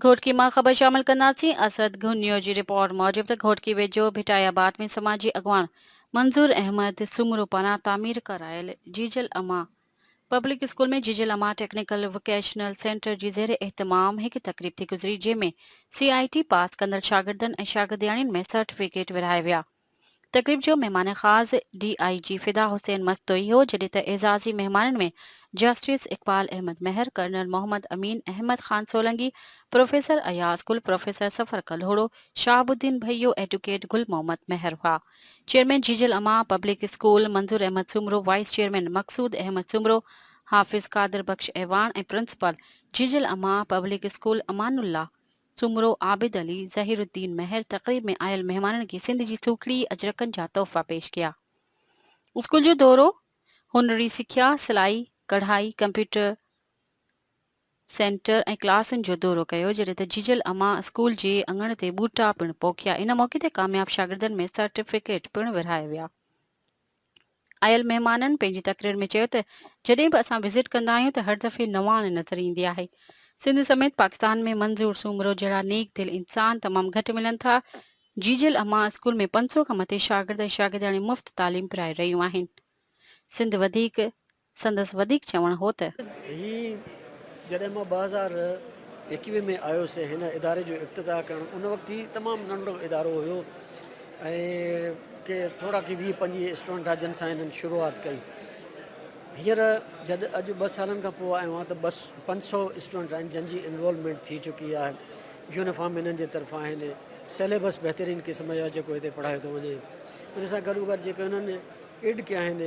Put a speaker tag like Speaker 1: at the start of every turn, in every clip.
Speaker 1: گهوٽڪي مان خبر شامل ڪنداسين. اسد گهن نيوز جي رپورٽ موجب ته گهوٽڪي ويجهو ڀٽائي آباد ۾ سماجي اڳواڻ منظور احمد سومرو پاران تعمير ڪرايل جيجل اما پبلڪ اسڪول ۾ جيجل اما ٽيڪنيڪل وڪيشنل سينٽر جي زير اهتمام هڪ تقريب ٿي گذري جنهن ۾ سي آء ٽي پاس ڪندڙ شاگردن ۽ شاگردياڻين ۾ سرٽيفڪيٽ ورهائي ويا. تقريب جو مهمان خاص ڊي آء جي فدا حسين مستوئي هو جڏهن ته اعزازي مهمانن ۾ justice Iqbal Ahmed Mehar, colonel Muhammad Amin, Ahmed Khan Solangi, professor Ayaz Gul, professor Safar Kalhoro, Shahab uddin Bhaiyo, advocate Gul Muhammad Mehar هئا. چيئرمين جيجي الاما public school, Manzoor Ahmed Soomro, vice chairman Maqsood Ahmed Soomro, Hafiz Qadir Bakhsh Awan ۽ principal جيجي الاما پبلڪ اسڪول امان الله سومرو، عابد علي، ظهير الدين مهر تقريب ۾ آيل مهمانن کي سنڌ جي سوکڙي اجرڪن جا تحفا پيش ڪيا. اسڪول جو دورو، هنري سکيا، سلائي، ڪڙهائي، ڪمپيوٽر سينٽر ۽ ڪلاسن جو دورو ڪيو، جڏهن ته جيجل اما اسڪول جي اڱڻ تي ٻوٽا پڻ پوکيا، ان موقعي تي ڪامياب شاگردن ۾ سرٽيفڪيٽ پڻ ورهايا ويا. آيل مهمانن پنهنجي تقرير ۾ چيو ته جڏهن به اسان وزٽ ڪندا آهيون ته هر دفعي نواڻ نظر ايندي آهي، سنڌ سميت پاڪستان ۾ منظور سومرو جهڙا نيڪ دل انسان تمام گهٽ ملن ٿا، جيجل اما اسڪول ۾ پنج سؤ کان مٿي شاگرد ۽ شاگردياڻيون مفت تعليم پرائي رهيون آهن، سنڌ وڌيڪ. سندس وڌيڪ چوڻ هو ته. هي
Speaker 2: جڏهن مان ٻه هزار ايڪويهه ۾ آيس ۽ هن اداري جو افتتاح ڪرڻ ان وقت هي تمام ننڍڙو ادارو هيو ۽ ڪي ٿورا ڪي ويهه پنجويهه اسٽوڊنٽ ها جن سان هنن شروعات ڪئي هينئر جڏ اڄ ٻه سالن کان پوء آيو آهيان ته بس پنج سؤ اسٽوڊنٽ آهن جن جي انرولمينٽ ٿي چڪي آهي يونيفارم هنن جي طرفان آهن سيليبس بهترين قسم جا جيڪو هتي پڙهايو ٿو وڃي ان سان گڏوگڏ جيڪي هنن ايڊ ڪيا آهن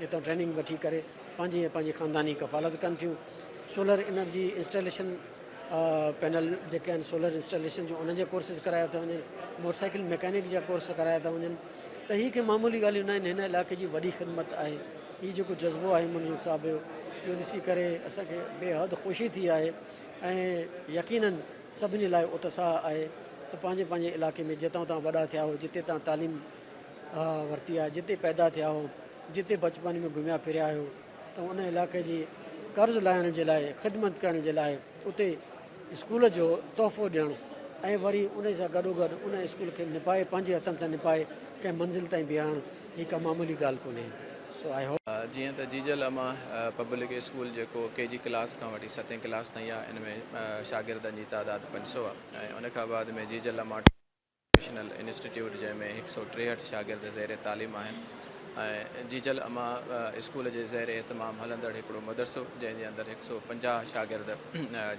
Speaker 2: اتان ٽريننگ وٺي ڪري پنهنجي ۽ پنهنجي خانداني ڪفالت ڪن ٿيون سولر انرجي انسٽاليشن پينل جيڪي آهن سولر انسٽاليشن جو انهن جا ڪورسز ڪرايا ٿا وڃن موٽرسائيڪل ميڪانڪ جا ڪورس ڪرايا ٿا وڃن ته هي ڪي معمولي ڳالهيون نه آهن هن علائقي جي وڏي خدمت آهي هي جيڪو جذبو آهي منظور صاحب جو اهو ڏسي ڪري اسانکي بي حد خوشي ٿي آهي ۽ يقينن سڀني لاء اتساهه آهي ته پنهنجي پنهنجي علائقي ۾ جتان اتان وڏا ٿيا هو جتي تان تعليم ورتي آهي جتي پيدا ٿيا آهيو جتي بچپن ۾ گهميا ڦريا آهيو ته ان علاقي جي قرض لاهڻ جي لاء خدمت ڪرڻ جي لاء اتي اسڪول جو تحفو ڏيڻ ۽ وري ان سان گڏو گڏ ان اسڪول کي نپائي پنهنجي هٿن سان نپائي ڪنهن منزل تائين بيهارڻ هي ڪا معمولي ڳالهه ڪونهي سو آء هوپ جيئن ته جيجل اما
Speaker 3: پبلڪ اسڪول جيڪو ڪي جي ڪلاس کان وٺي ستين ڪلاس تائين آهي ان ۾ شاگردن جي تعداد پنج سؤ آهي ۽ ان کان بعد ۾ جيجل اما. ووڪيشنل انسٽيٽيوٽ جنهن ۾ هڪ سؤ ٽيهٺ شاگرد زير تعليم آهن ۽ جيجل اما اسڪول جي زير اهتمام هلندڙ هڪڙو مدرسو جنهن جي اندر هڪ سؤ پنجاهه شاگرد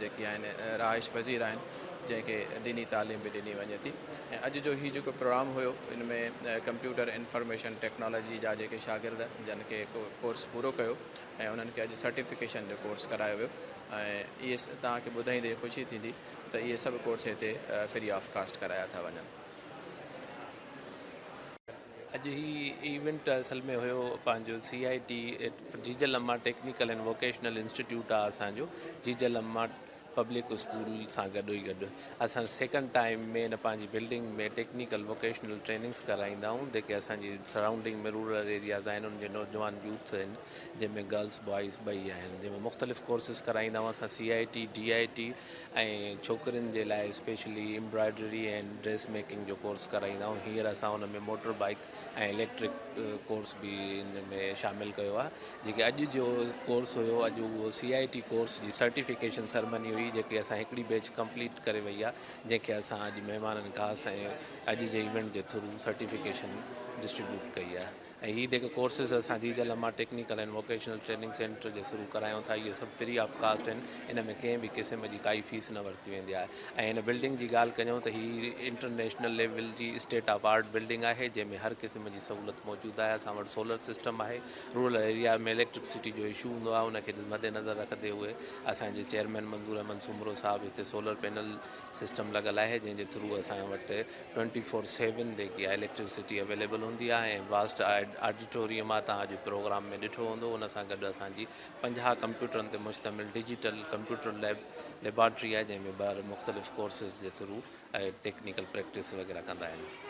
Speaker 3: جيڪي آهن رهائش پذير آهن جنهن کي ديني تعليم به ڏني وڃي ٿي ۽ اڄ جو هي جيڪو پروگرام هيو ان ۾ ڪمپيوٽر انفارميشن ٽيڪنالاجي جا جيڪي شاگرد جن کي ڪورس پورو ڪيو ۽ انهن کي اڄ سرٽيفڪيشن جو ڪورس ڪرايو ويو ۽ اهي توهان کي ٻڌائيندي خوشي ٿيندي ته اهي سڀ ڪورس هتي فري آف ڪاسٽ ڪرايا ٿا وڃن.
Speaker 4: اڄ هي ايونٽ اصل ۾ هيو پنهنجو سي آء T Jijal Amma technical and vocational institute آهي اسان جو جيجل اما پبلڪ اسڪول سان گڏو ئي گڏ اسان سيڪنڊ ٽائيم ۾ ان پنهنجي بلڊنگ ۾ ٽيڪنيڪل ووڪيشنل ٽريننگس ڪرائيندا آهيون جيڪي اسان جي سرائونڊنگ ۾ رورل ايرياز آهن ان جي نوجوان يوٿ آهن جنهن ۾ گرلس بوائز ٻئي آهن جنهن ۾ مختلف ڪورسز ڪرائيندا آهيون اسان سي آئي ٽي ڊي آئي ٽي ۽ ڇوڪرين جي لاء اسپيشلي امبرائڊري ۽ ڊريس ميڪنگ جو ڪورس ڪرائيندا آهيون هينئر اسان ان ۾ موٽر بائيڪ ۽ اليڪٽرڪ ڪورس به ان ۾ شامل ڪيو آهي جيڪي اڄ جو ڪورس هيو اڄ اهو سي آئي ٽي ڪورس جي سرٽيفڪيشن سرمني هئي جيڪي اسان هڪڙي بيچ ڪمپليٽ ڪري وئي آهي جنهن کي اسان اڄ مهمانن خاص ۽ اڄ جي ايونٽ جي ٿرو سرٽيفڪيشن ڊسٽريبيوٽ ڪئي آهي ۽ هي جيڪي ڪورسز اسان جي Jijal Amma technical and vocational training center جي ٿرو ڪرايون ٿا اهي سڀ فري آف ڪاسٽ آهن ان ۾ ڪنهن به قسم جي ڪائي فيس نه ورتي ويندي آهي ۽ هن بلڊنگ جي ڳالهه ڪجون ته هي انٽرنيشنل ليول جي اسٽيٽ آف آرٽ بلڊنگ آهي جنهن ۾ هر قسم جي سهولت موجود آهي اسان وٽ سولر سسٽم آهي رورل ايريا ۾ اليڪٽرڪسٽي جو اشو هوندو آهي ان کي مد نظر رکندي هئي اسان جي چيئرمين منظور احمد سومرو صاحب هتي سولر پينل سسٽم لڳل آهي جنهن جي ٿرو اسان وٽ ٽوئنٽي فور سيون ديکي آء اليڪٽريسٽي اويليبل هوندي آهي ۽ واسٽ آڊيٽوريم آهي توهان اڄ پروگرام ۾ ڏٺو هوندو ان سان گڏ اسان جي پنجاهه ڪمپيوٽرن تي مشتمل ڊيجيٽل ڪمپيوٽر ليب ليبارٽري آهي جنهن ۾ ٻار مختلف ڪورسز جي ٿرو ٽيڪنيڪل پريڪٽس وغيره ڪندا آهن